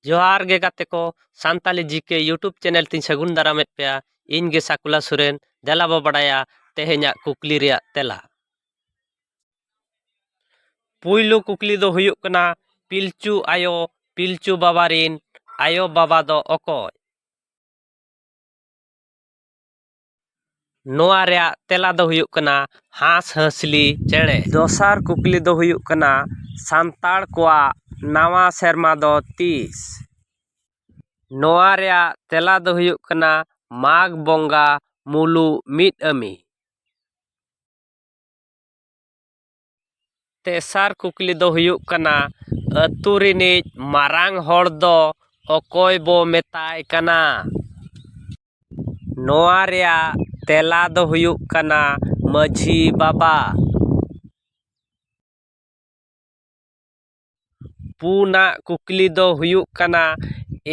ᱡᱚᱦᱟᱨ ᱜᱮ ᱜᱟᱛᱮ ᱠᱚ ᱥᱟᱱᱛᱟᱞᱤ ᱡᱤ ᱠᱮ ᱤᱭᱩᱴᱩᱵᱽ ᱪᱮᱱᱮᱞ ᱛᱤᱧ ᱥᱟᱹᱜᱩᱱ ᱫᱟᱨᱟᱢᱮᱫ ᱯᱮᱭᱟ ᱤᱧ ᱜᱮ ᱥᱟᱠᱩᱞᱟ ᱥᱚᱨᱮᱱ ᱫᱮᱞᱟ ᱵᱚ ᱵᱟᱰᱟᱭᱟ ᱛᱮᱦᱮᱧᱟᱜ ᱠᱩᱠᱞᱤ ᱨᱮᱭᱟᱜ ᱛᱮᱞᱟ ᱯᱩᱭᱞᱩ ᱠᱩᱠᱞᱤ ᱫᱚ ᱦᱩᱭᱩᱜ ᱠᱟᱱᱟ ᱯᱤᱞᱪᱩ ᱟᱭᱳ ᱯᱤᱞᱪᱩ ᱵᱟᱵᱟ ᱨᱤᱱ ᱟᱭᱳ ᱵᱟᱵᱟ ᱫᱚ ᱚᱠᱚᱭ ᱱᱚᱣᱟ ᱨᱮᱭᱟᱜ ᱛᱮᱞᱟ ᱫᱚ ᱦᱩᱭᱩᱜ ᱠᱟᱱᱟ ᱦᱟᱸᱥᱼᱦᱟᱺᱥᱞᱤ ᱪᱮᱬᱮ᱾ ᱫᱚᱥᱟᱨ ᱠᱩᱠᱞᱤ ᱫᱚ ᱦᱩᱭᱩᱜ ᱠᱟᱱᱟ ᱥᱟᱱᱛᱟᱲ ᱠᱚᱣᱟᱜ ᱱᱟᱣᱟ ᱥᱮᱨᱢᱟ ᱫᱚ ᱛᱤᱥ? ᱱᱚᱣᱟ ᱨᱮᱭᱟᱜ ᱛᱮᱞᱟ ᱫᱚ ᱦᱩᱭᱩᱜ ᱠᱟᱱᱟ ᱢᱟᱜᱽ ᱵᱚᱸᱜᱟ ᱢᱩᱞᱩᱜ ᱢᱤᱫ ᱟᱹᱢᱤ᱾ ᱛᱮᱥᱟᱨ ᱠᱩᱠᱞᱤ ᱫᱚ ᱦᱩᱭᱩᱜ ᱠᱟᱱᱟ ᱟᱹᱛᱩ ᱨᱤᱱᱤᱡ ᱢᱟᱨᱟᱝ ᱦᱚᱲ ᱫᱚ ᱚᱠᱚᱭ ᱵᱚ ᱢᱮᱛᱟᱭ ᱠᱟᱱᱟ ᱱᱚᱣᱟ ᱨᱮᱭᱟᱜ ᱛᱮᱞᱟ ᱫᱚ ᱦᱩᱭᱩᱜ ᱠᱟᱱᱟ ᱢᱟᱹᱡᱷᱤ ᱵᱟᱵᱟ ᱯᱩᱱᱟᱜ ᱠᱩᱠᱞᱤ ᱫᱚ ᱦᱩᱭᱩᱜ ᱠᱟᱱᱟ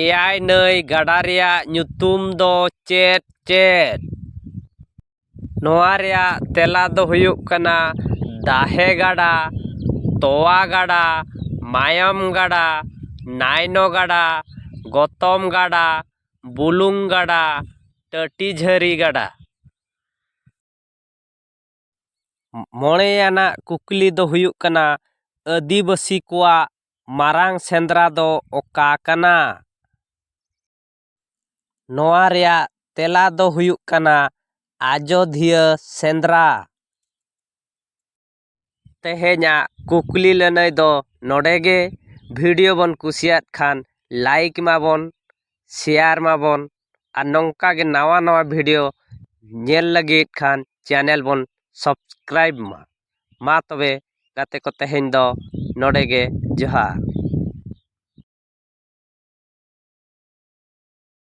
ᱮᱭᱟᱭ ᱱᱟᱹᱭ ᱜᱟᱰᱟ ᱨᱮᱭᱟᱜ ᱧᱩᱛᱩᱢ ᱫᱚ ᱪᱮᱫ ᱪᱮᱫ ᱱᱚᱣᱟ ᱨᱮᱭᱟᱜ ᱛᱮᱞᱟ ᱫᱚ ᱦᱩᱭᱩᱜ ᱠᱟᱱᱟ ᱫᱟᱦᱮ ᱜᱟᱰᱟ ᱛᱚᱣᱟ ᱜᱟᱰᱟ ᱢᱟᱭᱟᱢ ᱜᱟᱰᱟ ᱱᱟᱭᱱᱚ ᱜᱟᱰᱟ ᱜᱚᱛᱚᱢ ᱜᱟᱰᱟ ᱵᱩᱞᱩᱝ ᱜᱟᱰᱟ ᱴᱟᱹᱴᱤ ᱡᱷᱟᱹᱨᱤ ᱜᱟᱰᱟ ᱢᱚᱬᱮᱭᱟᱱᱟᱜ ᱠᱩᱠᱞᱤ ᱫᱚ ᱦᱩᱭᱩᱜ ᱠᱟᱱᱟ ᱟᱹᱫᱤᱵᱟᱹᱥᱤ ᱠᱚᱣᱟᱜ ᱢᱟᱨᱟᱝ ᱥᱮᱸᱫᱽᱨᱟ ᱫᱚ ᱚᱠᱟ ᱠᱟᱱᱟ ᱱᱚᱣᱟ ᱨᱮᱭᱟᱜ ᱛᱮᱞᱟ ᱫᱚ ᱦᱩᱭᱩᱜ ᱠᱟᱱᱟ ᱟᱡᱚᱫᱷᱤᱭᱟᱹ ᱥᱮᱸᱫᱽᱨᱟ ᱛᱮᱦᱮᱧᱟᱜ ᱠᱩᱠᱞᱤ ᱞᱟᱹᱱᱟᱹᱭ ᱫᱚ ᱱᱚᱰᱮ ᱜᱮ ᱵᱷᱤᱰᱤᱭᱳ ᱵᱚᱱ ᱠᱩᱥᱤᱭᱟᱜ ᱠᱷᱟᱱ ᱞᱟᱭᱤᱠ ᱢᱟᱵᱚᱱ ᱥᱮᱭᱟᱨ ᱢᱟᱵᱚᱱ ᱟᱨ ᱱᱚᱝᱠᱟ ᱜᱮ ᱱᱟᱣᱟ ᱱᱟᱣᱟ ᱵᱷᱤᱰᱭᱳ ᱧᱮᱞ ᱞᱟᱹᱜᱤᱫ ᱠᱷᱟᱱ ᱪᱮᱱᱮᱞ ᱵᱚᱱ ᱥᱟᱵᱥᱠᱨᱟᱭᱤᱵᱽ ᱢᱟ ᱢᱟ ᱛᱚᱵᱮ ᱜᱟᱛᱮ ᱠᱚ ᱛᱮᱦᱮᱧ ᱫᱚ ᱱᱚᱰᱮ ᱜᱮ ᱡᱚᱦᱟᱨ